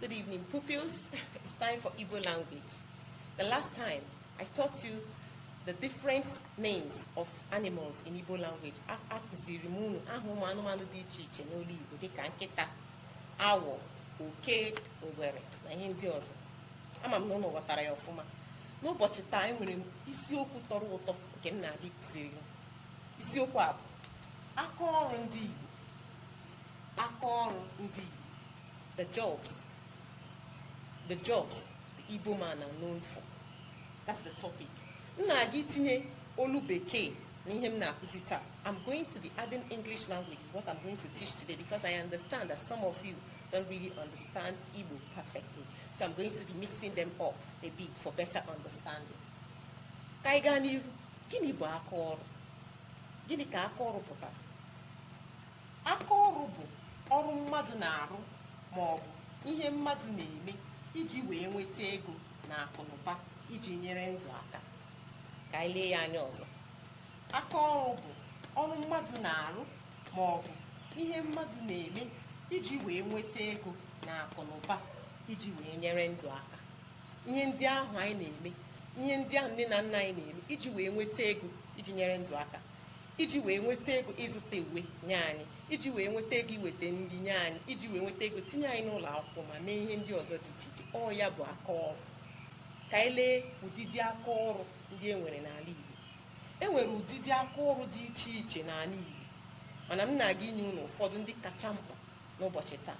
Good evening, pupils. It's time for Igbo language. The last time I taught you the different names of animals in Igbo language. A- Akụziri m unu aha ụmụ anụmanụ dị iche iche n'olu Igbo dịka nkịta, awọ, oke, ngwere na ihe ndị ọzọ. Ama m na unu ghọtara ya ọfụma. N'ụbọchị taa enwere m isiokwu tọrọ ụtọ nke m na-aga ịkụziri unu. isiokwu a bụ aka ọrụ ndị Igbo aka ọrụ ndị Igbo the jobs the jobs the Igbo man are known for that's the topic m na-aga itinye olu bekee na ihe m na-akụzi taa I'm going to be adding English language what I'm going to teach today because I understand that some of you don't really understand Igbo perfectly so I'm going to be mixing them up a bit for better understanding ka anyị gaa n'iru gịnị bụ aka ọrụ gịnị ka aka ọrụ pụtara aka ọrụ bụ ọrụ mmadụ na-arụ ma ọ bụ ihe mmadụ na-eme iji wee nweta ego na akụnụba iji nyere ndụ aka ka anyị lee ya anya ọzọ aka ọrụ bụ ọrụ mmadụ na-arụ ma ọ bụ ihe mmadụ na-eme iji wee nweta ego na akụnụba iji wee nyere ndụ aka ihe ndị ahụ anyị na-eme ihe ndị ahụ nne na nna anyị na-eme iji wee nweta ego iji nyere ndụ aka iji wee nweta ego ịzụta uwe nye anyị iji wee nweta ego iweta nri nye anyị iji wee nweta ego tinye anyị n'ụlọ akwụkwọ ma mee ihe ndị ọzọ dị iche iche ọ ya bụ aka ọrụ ka anyị lee ụdịdị aka ọrụ ndị e nwere n'ala Igbo e nwere ụdịdị aka ọrụ dị iche iche n'ala Igbo mana m na-aga inye unu ụfọdụ ndị kacha mkpa n'ụbọchị taa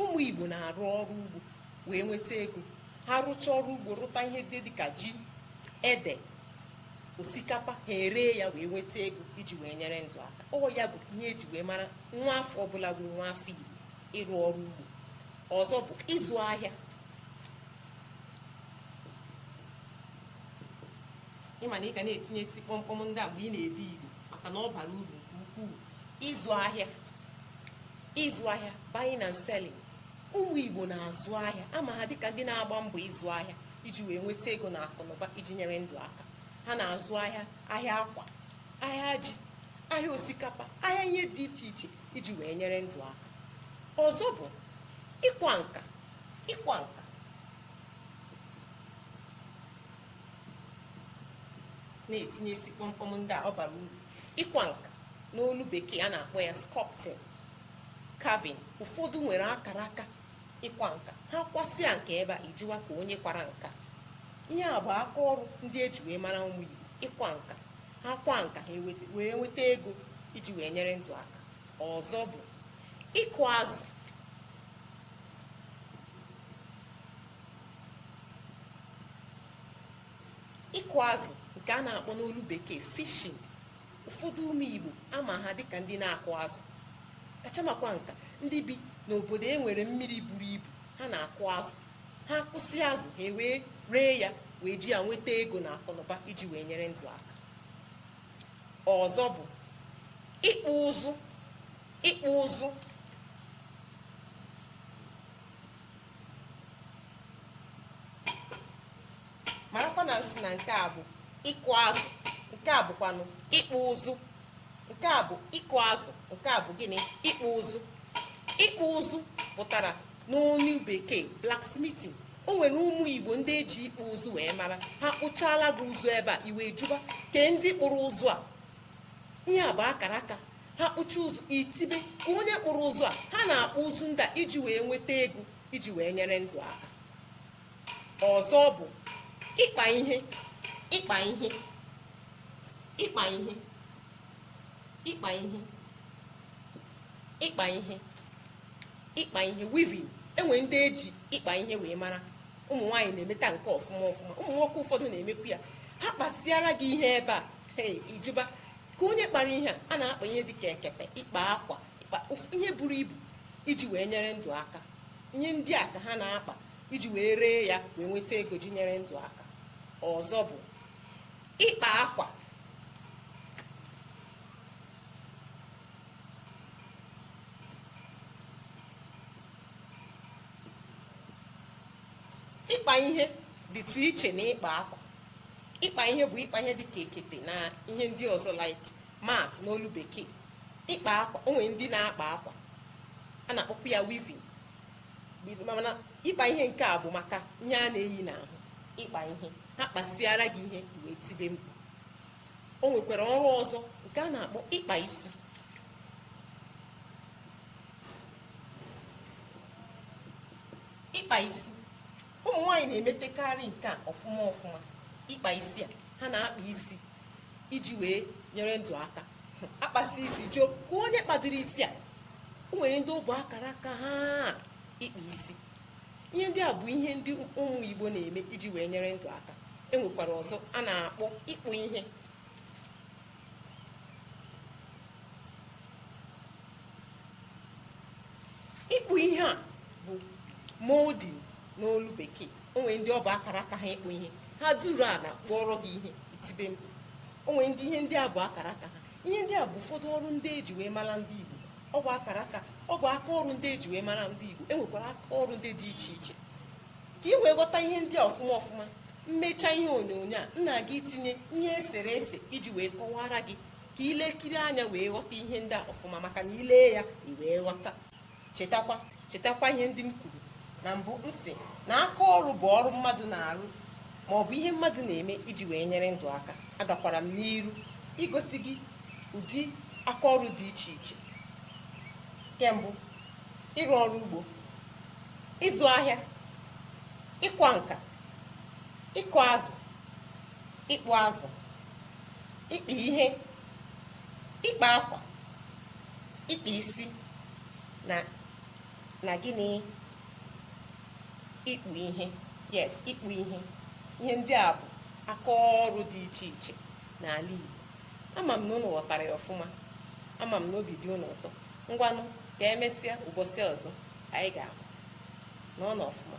ụmụ igbo na-arụ ọrụ ugbo wee nweta ego ha rụchaa ọrụ ugbo rụta ihe ndị dịka ji ede osikapa ha eree ya wee nweta ego iji wee nyere ndụ aka ọ ya bụ ihe eji wee mara nwa afọ ọbụla bụ nwa afọ igbo ịrụ ọrụ ugbo ọzọ bụ ịzụ ahịa ị ma na ị ga na-etinyesi kpọmkpọm ndị a mgbe ị na-ede igbo maka na ọ bara uru nke ukwuu ịzụ ahịa ịzụ ahịa buying and selling ụmụ igbo na-azụ ahịa ama ha dịka ndị na-agba mbọ ịzụ ahịa iji wee nweta ego na akụnụba iji nyere ndụ aka ha na-azụ ahịa ahịa akwa ahịa ji ahịa osikapa ahịa ihe dị iche iche iji wee nyere ndụ aka ọzọ bụ ịkwa nka ịkwa nka na-etinyesi kpọmkpọm ndị a ọ bara uru ịkwa nka n'olu bekee a na-akpọ ya sculpting carving ụfọdụ nwere akara aka ịkwa nka ha kwasịa nke ebe a ị jụwa ka onye kwara nka ihe a bụ aka ọrụ ndị eji wee mara ụmụ igbo ịkwa nka ha kwa nka ha eweta- wee nweta ego iji wee nyere ndụ aka ọzọ bụ ịkụ azụ ịkụ azụ nke a na-akpọ n'olu bekee fishing ụfọdụ ụmụ igbo a ma ha dịka ndị na-akụ azụ kachamakwa nka ndị bi n'obodo e nwere mmiri buru ibu ha na-akụ azụ ha kụsị azụ ha wee ree ya wee ji ya nweta ego na akụnụba iji wee nyere ndụ aka ọzọ bụ ịkpụ ụzụ ịkpụ ụzụ marakwa na m sị na nke a bụ ịkụ azụ nke a bụkwanụ ịkpụ ụzụ nke a bụ ịkụ azụ nke a bụ gịnị ịkpụ ụzụ ịkpụ ụzụ pụtara n'onu bekee blacksmithing o nwere ụmụ igbo ndị eji ịkpụ ụzụ wee mara ha kpụchaala gị ụzụ ebe a i wee jụba kee ndị kpụrụ ụzụ a ihe a bụ akara aka ha kpụcha ụzụ i tibe ka onye kpụrụ ụzụ a ha na-akpụ ụzụ ndị a iji wee nweta ego iji wee nyere ndụ aka ọzọ bụ ịkpa ihe ịkpa ihe ịkpa ihe ịkpa ihe ịkpa ihe ịkpa ihe weaving e nwe ndị eji ịkpa ihe wee mara ụmụ nwaanyị na-emeta nke ọfụma ọfụma ụmụ nwoke ụfọdụ na-emekwu ya ha kpasịara gị ihe ebe a ị jụba ka onye kpara ihe a a na-akpa ihe dịka ekete ịkpa akwa ịkpa ụf- ihe buru ibu iji wee nyere ndụ aka ihe ndị a ka ha na-akpa iji wee ree ya wee nweta ego ji nyere ndụ aka ọzọ bụ ịkpa akwa ịkpa ihe dịtụ iche na ịkpa akwa ịkpa ihe bụ ịkpa ihe dịka ekete na ihe ndị ọzọ like mat n'olu bekee ịkpa akwa o nwere ndị na-akpa akwa a na-akpọkwa ya weaving mana ịkpa ihe nke a bụ maka ihe a na-eyi n'ahụ ịkpa ihe ha kpasịara gị ihe i wee tibe mkpu o nwekwara ọrụ ọzọ nke a na-akpọ ịkpa isi ịkpa isi ụmụ nwaanyị na-emetekarị nke a ọfụma ọfụma ịkpa isi a ha na-akpa isi iji wee nyere ndụ aka a kpasị isi jụọ ka onye kpadoro isi a o nwere ndị ọ bụ akara aka ha ịkpa isi ihe ndị a bụ ihe ndị ụmụ igbo na-eme iji wee nyere ndụ aka e nwekwara ọzọ a na-akpọ ịkpụ ihe ịkpụ ihe a bụ molding n'olu bekee o nwere ndị ọ bụ akara aka ha ịkpụ ihe ha duru ala kpụọrọ gị ihe i tibe mkpu o nwere ndị ihe ndị a bụ akara aka ha ihe ndị a bụ ụfọdụ ọrụ ndị eji wee mara ndị igbo ọ bụ akara aka ọ bụ aka ọrụ ndị eji wee mara ndị igbo e nwekwara aka ọrụ ndị dị iche iche ka ị wee ghọta ihe ndị a ọfụma ọfụma m mecha ihe onyonyo a m na-aga itinye ihe e sere ese iji wee kọwara gị ka i lekiri anya wee ghọta ihe ndị a ọfụma maka na i lee ya i wee ghọta chetakwa ihe ndị m kwuru na mbụ m sị na aka ọrụ bụ ọrụ mmadụ na-arụ ma ọ bụ ihe mmadụ na-eme iji wee nyere ndụ aka agakwara m n'iru igosi gị ụdị aka ọrụ dị iche iche nke mbụ ịrụ ọrụ ugbo ịzụ ahịa ịkwa nka ịkụ azụ ịkpụ ụzụ ịkpa ihe ịkpa akwa ịkpa isi na gịnị ịkpụ ihe yes ịkpụ ihe ihe ndị a bụ aka ọrụ dị iche iche n'ala Igbo ama m na ụnụ ghọtara ya ọfụma ama m na obi dị ụnụ ụtọ ngwanụ ka emesịa ụbọchị ọzọ anyị ga-ahụ nọnụ ọfụma